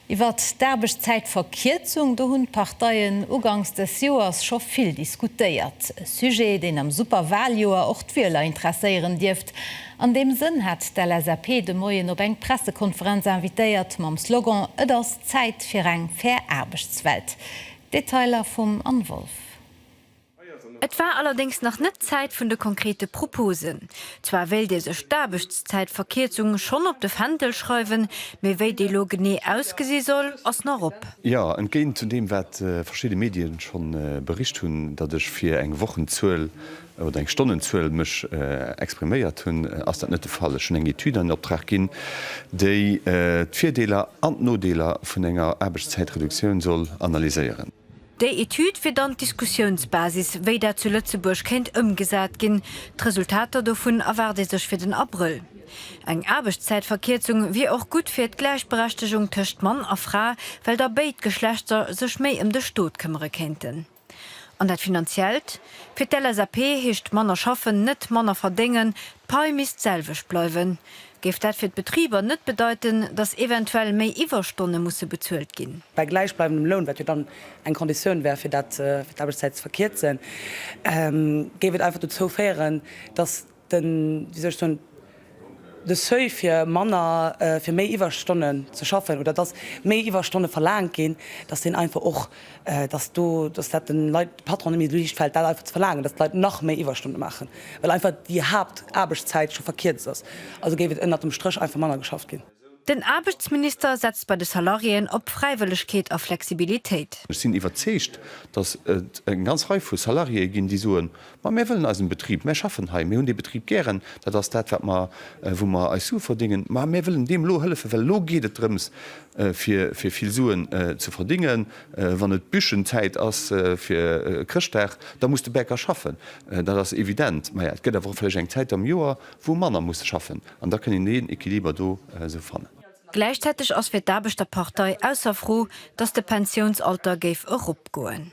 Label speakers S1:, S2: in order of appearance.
S1: Iwwer d'Aarbechtszäitverkierzung, do hunn d'Parteien ugangs des Joers scho vill diskutéiert. E Sujet, deen am Superwaljoer och d'Wieler interesséieren dierft. An deem Sënn hat d'LSAP de Moien op eng Pressekonferenz invitéiert, mam Slogan Et ass Zäit fir eng fair Aarbechtswelt. D'Detailer vum Anne Wolff.
S2: Et war allerdéngs nach net d'Zäit vun de konkrete Proposen. Zwar wéilt ee sech d'Aarbechtszäitverkierzung schonn op de Fändel schreiwen, mee wéi déi lo genee ausgesi soll, ass nach op. Jo, entgéint zu
S3: deem wat verschidde Medien schonn bericht hunn, datt ech fir eng Wochenzuel oder eng Stonnenzuel mech expriméiert hunn, ass dat net de Fall. Ech hunn eng Etüd an Optrag ginn, déi d'Virdeeler an d'Nodeeler vun enger Aarbechtszäitreduktioun soll analyséieren. Déi Etüd
S2: wier dann d'Diskussiounsbasis, wéi dat zu Lëtzebuerg kéint ëmgesat ginn. D'Resultater dovun erwaart ee sech fir den Abrëll. Eng Aarbechtszäitverkierzung wier och gutt fir d'Gläichberechtegung tëscht Mann a Fra, well da béid Geschlechter sech méi ëm de Stot këmmere kéinten. An dat Finanziellt? Fir d'LSAP heescht manner schaffen net manner verdéngen, d'Pai misst d'selwecht bleiwen. Géif dat fir d'Betriber net bedeiten, datt eventuell méi Iwwerstonne musse bezuelt ginn? Bei gläichbleibendem Loun,
S4: wat jo dann eng Konditioun wär, fir d'Aarbechtszäit ze verkierzen, géif et einfach dozou féieren, datt de, wéi soll ech soen, de Seuil fir manner, fir méi Iwwerstonnen ze schaffen oder datt méi Iwwerstonne verlaangt ginn, datt deen einfach och dass do, dass dat den Leit, de Patronen méi liicht fält, dat einfach ze verlaangen, dass d'Leit nach méi Iwwerstonne maachen, well einfach déi Haaptaarbechtszäit scho verkierzt ass. Also géif et ënnert dem Stréch einfach manner geschafft ginn. Den Aarbechtsminister
S2: setzt bei de Salariéen op Fräiwëllegkeet a Flexibilitéit. Ech sinn iwwerzeegt,
S3: dass et eng ganz Rei vu Salariéë ginn, déi soen, Ma mir wëllen eisen Betrib, mir schaffen hei, mir hunn dee Betrib gären, dat ass dat, wat mer, wou mer eis Sue verdéngen. Ma mir wëllen deem elo hëllefen, well elo geet et drëms, fir, fir vill Suen ze verdéngen. Wann et Büschenzäit ass, fir Chrëschtdag, da muss de Bäcker schaffen, dat ass evident. Maja, et gëtt awer och vläicht eng Zäit am Joer, wou e manner muss schaffen. An da kënn een deen Equiliber do esou fannen. Gläichzäiteg
S2: ass fir d'Aarbechterpartei ausser Fro, datt de Pensiounsalter géif eropgoen.